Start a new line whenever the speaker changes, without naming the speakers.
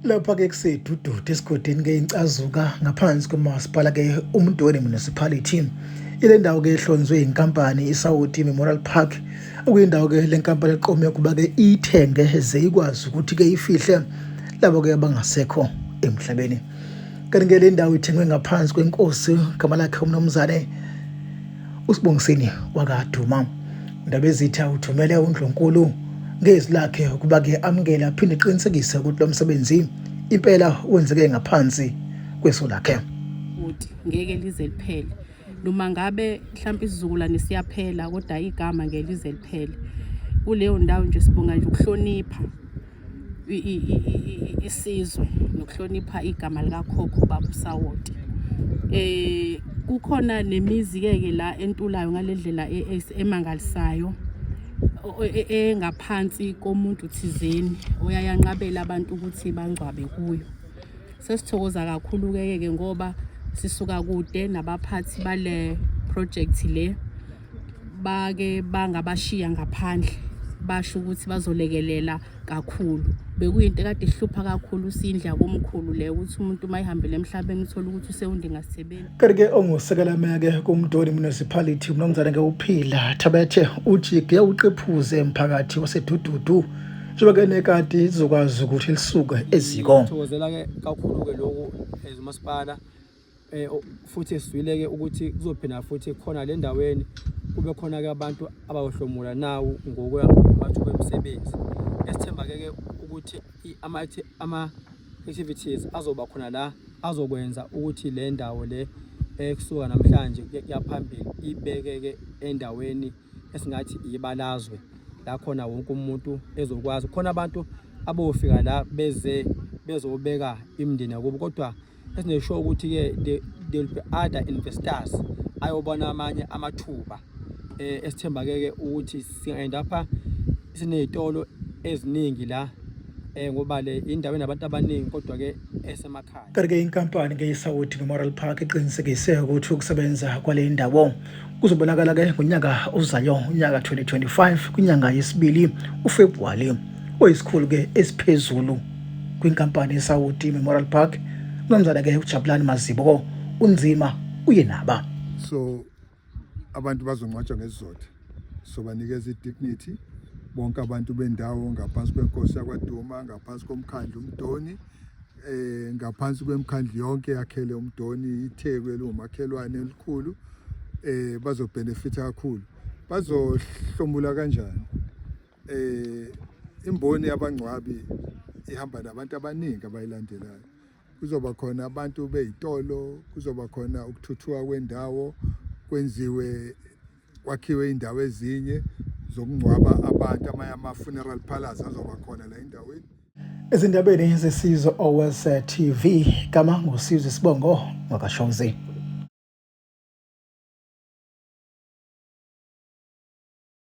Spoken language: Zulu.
Lapha-ke kusedudude esigodini ke incazuka ngaphansi komasipala ke uMdoni Municipality. Ile ndawo ke ehlonzwe inkampani iSawoti Memorial Park okuyindawo ke le nkampani eqome ukuba ke iyithenge ze ikwazi ukuthi ke ifihle labo ke abangasekho emhlabeni. Kanti ke le ndawo ithengwe ngaphansi kwenkosi gama lakhe umnumzane USibongiseni wakaduma Ndabezitha uthumele uNdlunkulu ngezwi lakhe ukuba ke amukele aphinde eqinisekise ukuthi lo msebenzi impela wenzeke ngaphansi kweso lakhe. Bhuti ngeke
lize liphele noma ngabe mhlawumbe isizukulwane siyaphela kodwa igama ngeke lize liphele kuleyo ndawo nje sibonga nje ukuhlonipha isizwe nokuhlonipha igama likakhokho baba usawoti eh kukhona nemizi keke la entulayo ngalendlela e, e, emangalisayo e, engaphansi komuntu thizeni oyayanqabela abantu ukuthi bangcwabe kuyo sesithokoza kakhulu keke ngoba sisuka kude nabaphathi bale project le bake bangabashiya ngaphandle basho ukuthi bazolekelela kakhulu bekuyinto ekade ihlupha kakhulu usindla komkhulu le ukuthi umuntu uma ehambele emhlabeni uthole ukuthi usewundingasebenzi kanti-ke
ongusekelameke kumdoni municipality umnumzane-ke uphila thabethe ujige uqephuze emphakathi wasedududu njengoba-ke nekati izokwazi ukuthi lisuke eziko thokozela-ke kakhulu-ke
lokhu ezumasipala eh, futhi esizwile-ke ukuthi kuzophinda futhi khona le ndaweni kube khona-ke abantu abayohlomula nawo ngokuya mathuba emisebenzi esithemba-ke-ke ukuthi ama-activities azoba khona la azokwenza ukuthi le ndawo le ekusuka namhlanje kuyaphambili ibekeke endaweni esingathi ibalazwe la khona wonke umuntu ezokwazi khona abantu abofika la beze bezobeka imndeni yakubo kodwa esinesho ukuthi-ke there will be other investors ayobona amanye amathuba um eh, esithemba-ke-ke ukuthi singa-end apha siney'tolo eziningi la um ngoba le indawo enabantu abaningi kodwa-ke esemakhaya kanti-ke inkampani-ke
isawuthi memorial park iqinisekise ukuthi ukusebenza kwale ndawo Kuzobonakala ke ngonyaka ozayo unyaka 2025 kwinyanga yesibili uFebruary oyisikhulu ke esiphezulu kwinkampani eSaudi Memorial Park nomzana ke uJabulani Mazibo unzima uye naba so
abantu bazongcwatshwa ngesizotha so banikeza i-dignity bonke abantu bendawo ngaphansi kwenkosi yakwaduma ngaphansi komkhandlu umdoni eh ngaphansi kwemkhandlu yonke yakhele uMdoni iTheku elingumakhelwane elikhulu eh bazobenefita kakhulu bazohlomula kanjani eh imboni yabangcwabi ihamba nabantu abaningi abayilandelayo kuzoba khona abantu beyitolo kuzoba khona ukuthuthuka kwendawo kwenziwe kwakhiwe indawo ezinye zokungcwaba abantu amanye ama-funeral palace azoba khona la endaweni Ezindabeni
zesizwe Owes TV gama ngusizwe Sibongo wakashozi.